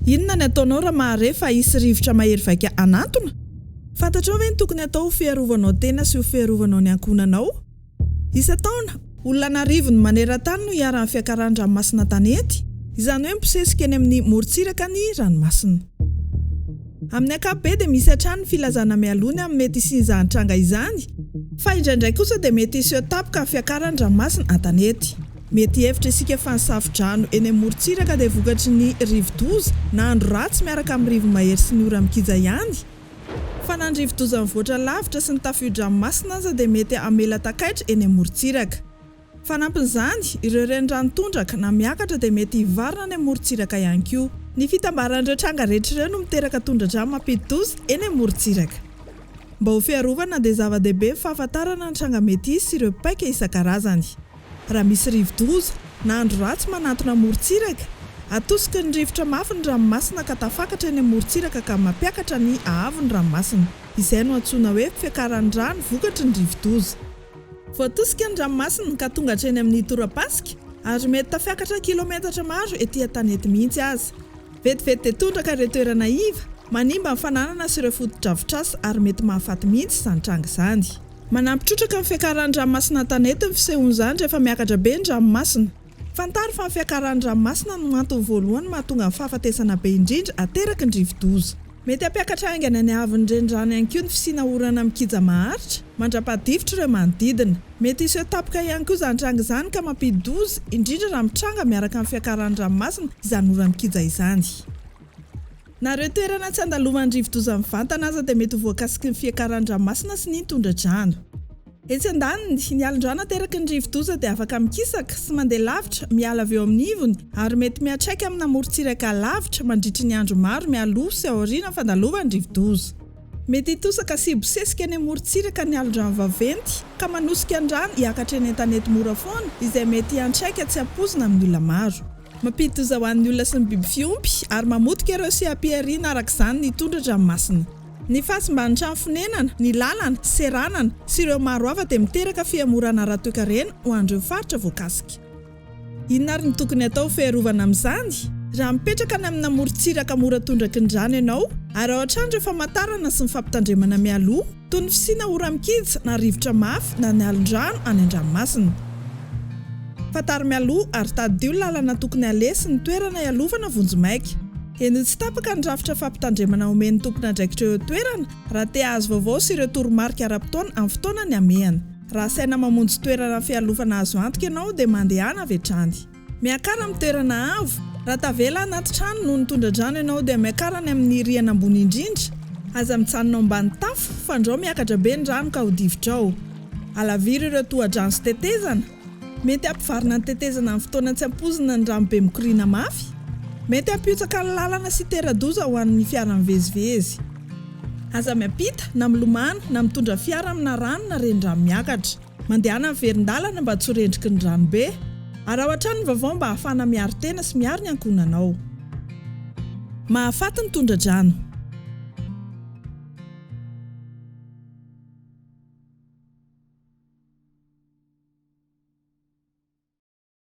Inona ny ataonao raha mahare fa hisy rivotra mahery vaika hanantona? Fantatrao ve ny tokony hatao ho fiarovanao tena sy ho fiarovanao ny ankohonanao? Isan-taona, olona an'arivony maneran-tany no iharan'ny fiakaran-dranomasina tanety, izany hoe mibosesika eny amin'ny morontsiraka ny ranomasina. Amin'ny ankapobeny dia misy hatrany ny filazana mialoha ny amin'ny mety hisian'izany tranga izany, fa indraindray kosa dia mety hiseho tampoka ny fiakaran'ny ranomasina an-tanety. Mety hihevitra isika fa ny safo-drano eny amorontsiraka dia vokatry ny rivo-doza na andro ratsy miaraka amin'ny rivo-mahery sy ny ora mikija ihany. Fa na ny rivo-doza mivoatra lavitra sy ny tafiodra-nomasina aza dia mety hamela takaitra eny amorontsiraka. Fanampin'izany, ireo renirano tondraka na miakatra dia mety hivarina any amorontsiraka ihany koa. Ny fitambaran'ireo tranga rehetra ireo no miteraka tondradrano mampidi-doza eny amorontsiraka. Mba ho fiarovana dia zava-dehibe ny fahafantarana ny tranga mety hisy sy ireo paika isan-karazany. Raha misy rivodoza na andro ratsy manantona amorontsiraka, atosiky ny rivotra mafy ny ranomasina ka tafakatra eny amorontsiraka ka mampiakatra ny haavon'ny ranomasina. Izay no antsoina hoe fiakaran'ny rano vokatry ny rivodoza. Voatosika ny ranomasina ka tonga hatreny amin'ny tora-pasika ary mety tafiakatra kilometatra maro ety an-tanety mihitsy aza. Vetivety dia tondraka ireo toerana iva, manimba ny fananana sy ireo fotodrafitrasa ary mety mahafaty mihitsy izany tranga izany. Manampy trotraka ny fiakaran'ny ranomasina an-tanety ny fisehon'izany rehefa miakatra be ny ranomasina. Fantaro fa ny fiakaran'ny ranomasina no antony voalohany mahatonga ny fahafatesana be indrindra ateraky ny rivodoza. Mety hampiakatra haingana ny haavon'ny renirano ihany koa ny fisiana orana mikija maharitra mandra-pahadifotra ireo manodidina. Mety hiseho tampoka ihany koa izany tranga izany ka mampidi-doza, indrindra raha mitranga miaraka amin'ny fiakaran'ny ranomasina izany ora mikija izany. Na ireo toerana tsy andalovan'ny rivodoza mivantana aza dia mety ho voakasiky ny fiakaran'ny ranomasina sy ny tondra-drano. Etsy andaniny, ny alin-drano ateraky ny rivodoza dia afaka mikisaka sy mandeha lavitra miala avy eo amin'ny ivony ary mety miantraika amina morontsiraka lavitra mandritry ny andro maro mialoha sy aorianan'ny fandalovan'ny rivodoza. Mety hitosaka sy hibosesika eny amorontsiraka ny alin-drano vaventy ka manosika ny rano hiakatra eny an-tanety mora foana izay mety hiantraika tsy ampoizina amin'ny olona maro. Mampidi-doza ho an'ny olona sy ny biby fiompy, ary mamotika ireo seha-pihariana araka izany ny tondra-dranomasina. Ny fahasimban'ny trano fonenana, ny lalana, seranana, sy ireo maro hafa dia miteraka fihemorana ara-toekarena ho an'ireo faritra voakasika. Inona ary no tokony hatao ho fiarovana amin'izany? Raha mipetraka any amina morontsiraka mora tondraky ny rano ianao, araho hatrany ireo famantarana sy ny fampitandremana mialoha. Toy ny fisiana ora-mikija na rivotra mafy na ny alin-drano any an-dranomasina. Fantaro mialoha ary tadidio ny lalana tokony haleha sy ny toerana hialovana vonjimaika. Henoy tsy tapaka ny rafitra fampitandremana omen'ny tompon'andraikitra eo an-toerana raha te hahazo vaovao sy ireo toromarika ara-potoana amin'ny fotoana nihamehana. Raha saina mamonjy toerana fialofana azo antoka ianao dia mandehana avy hatrany. Miakara amin'ny toerana avo, Raha tavela anaty trano noho ny tondra-drano ianao dia miakara any amin'ny rihana ambony indrindra. Aza mijanona ao ambany tafo fandrao miakatra be ny rano ka ho difodrao. Alaviro ireo toha-drano sy tetezana, Mety hampivarina ny tetezana amin'ny fotoana tsy ampoizina ny rano be mikoriana mafy. Mety hampihotsaka ny lalana sy hitera-doza ho an'ny fiara mivezivezy. Aza miampita, na milomano, na mitondra fiara amina rano na renirano miakatra. Mandehana miverin-dalana mba tsy ho rendriky ny ranobe. Araho hatrany ny vaovao mba hahafahana miaro tena sy miaro ny ankohonanao. Mahafaty ny tondra-drano.